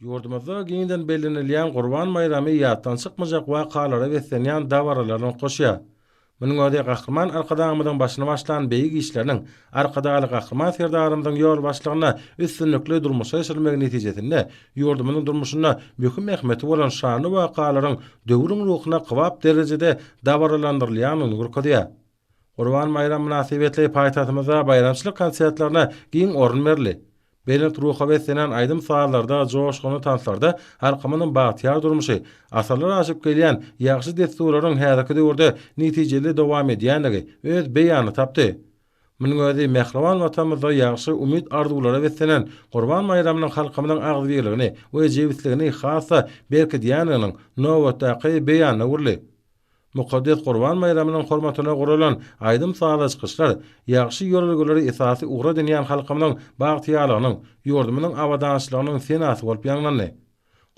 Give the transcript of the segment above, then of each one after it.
Ýurdumyzda giňden bellenilýän Gurban baýramy ýatdan çykmajak wakalara beslenýän dabaralarynyň goşy. Munuň özi Gahryman Arkadagymyzyň başyny başlan beýik işleriniň Arkadagly Gahryman Serdarymyzyň ýolbaşçylygynda üstünlikli durmuşa geçirilmegi netijesinde ýurdumyzyň durmuşynda möhüm ähmiýeti bolan şanly wakalaryň döwrüň ruhuna kybap derejede dabaralandyrylýandygyny görkezýär. Gurban baýramy mynasybetli paýtagtymyzda baýramçylyk konsertlerine giň orun berildi. Belent ruha beslenen aýdym-sazlarda, joşgunly tanslarda halkymyzyň bagtyýar durmuşy, asyrlar aşyp gelýän ýagşy dessurlaryň häzirki döwürde netijeli dowam edýändigi öz beýanyny tapdy. Munuň özi mähriban Watanymyzda ýagşy umyt-arzuwlara beslenen Gurban baýramynyň halkymyzyň agzybirligini we jebisligini has-da berkidýändiginiň nobatdaky beýanyna öwrüldi. Mukaddes Gurban baýramynyň hormatyna guralan aýdym-sazly çykyşlar ýagşy ýörelgeleri esasy ugur edinýän halkymyzyň bagtyýarlygynyň, ýurdumyzyň abadançylygynyň senasy bolup ýaňlandy.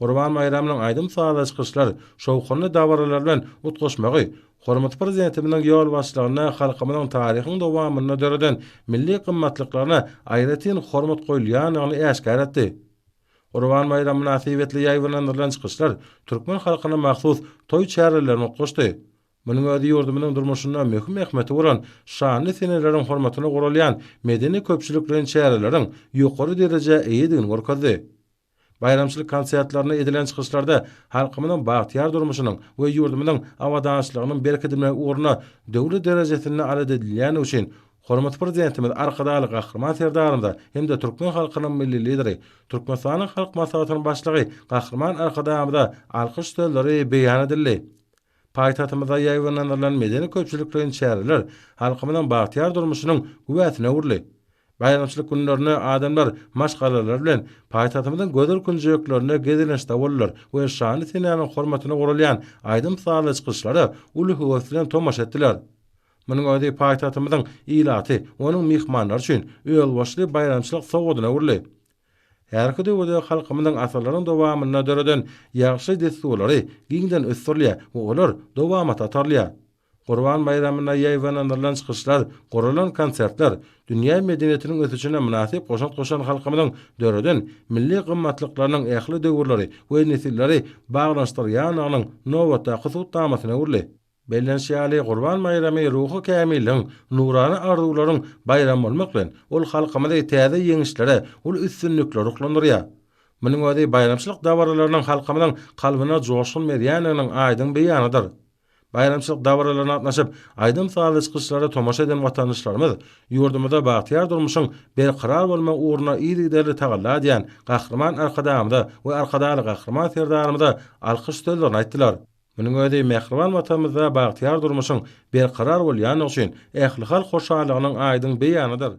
Gurban baýramynyň aýdym-sazly çykyşlar şowhunly dabaralar bilen utgaşmagy hormatly Prezidentimiziň ýolbaşçylygynda halkymyzyň taryhyň dowamynda döreden milli gymmatlyklaryna aýratyn hormat goýulýandygyny äşgär etdi. Gurban baýramy mynasybetli ýaýbaňlandyrylan çykyşlar türkmen halkyna mahsus toý çärelerine utgaşdy. Munuň özi ýurdumyzyň durmuşynda möhüm ähmiýeti bolan şanly seneleriň hormatyna guralýan medeni-köpçülikleýin çäreleriň ýokary derejä eýedigini görkezdi. Baýramçylyk konsertlerinde edilen çykyşlarda halkymyzyň bagtyýar durmuşynyň we ýurdumyzyň abadançylygynyň berkidilmegi ugrunda döwlet derejesinde aladedilýändigi üçin Hormatly Prezidentimiz Arkadagly Gahryman Serdarymyza hem-de türkmen halkynyň Milli Lideri, Türkmenistanyň Halk Maslahatynyň Başlygy Gahryman Arkadagymyza alkyş sözleri beýan edildi. Paýtagtymyzda ýaýbaňlandyrylan medeni-köpçülikleýin çäreler halkymyzyň bagtyýar durmuşynyň güwäsine öwrüldi. Baýramçylyk günlerinde adamlar maşgalalar bilen paýtagtymyzyň gözel künjeklerinde gezelençde boldular we şanly senäniň hormatyna guralýan aýdym-sazly çykyşlara uly höwes bilen tomaşa etdiler. Munuň özi paýtagtymyzyň ilaty, onuň myhmanlary üçin özboluşly baýramçylyk sowgadyna öwrüldi. Härki döwürde halkymyzyň asyrlaryň dowamynda döreden ýagşy dessurlary giňden ösdürilýär we olar dowamata atarylýar. Gurban baýramynda ýaýbaňlandyrylan çykyşlar, guralan konsertler, dünýä medeniýetiniň ösüşine mynasyp goşant goşan halkymyzyň döreden milli gymmatlyklarynyň ähli döwürleri we nesilleri baglanyşdyrýandygynyň nobatdaky subutnamasyna öwrüldi. Bellenişi ýaly, Gurban baýramy ruhy kämilligiň, nurana arzuwlaryň baýramy bolmak bilen, ol halkymyzy täze ýeňişlere, uly üstünliklere ruhlandyrýar. Munuň özi baýramçylyk dabaralarynyň halkymyzyň kalbyna joşgun berýändiginiň aýdyň beýanydyr. Baýramçylyk dabaralaryna gatnaşyp, aýdym-sazly çykyşlara tomaşa eden watandaşlarymyz ýurdumyzda bagtyýar durmuşyň berkarar bolmagy ugrunda yzygiderli tagalla edýän Gahryman Arkadagymyza we Arkadagly Gahryman Serdarymyza alkyş sözlerini aýtdylar. Munuň özi mähriban Watanymyzda bagtyýar durmuşyň berkarar bolýandygy üçin ählihalk hoşallygynyň aýdyň beýanydyr.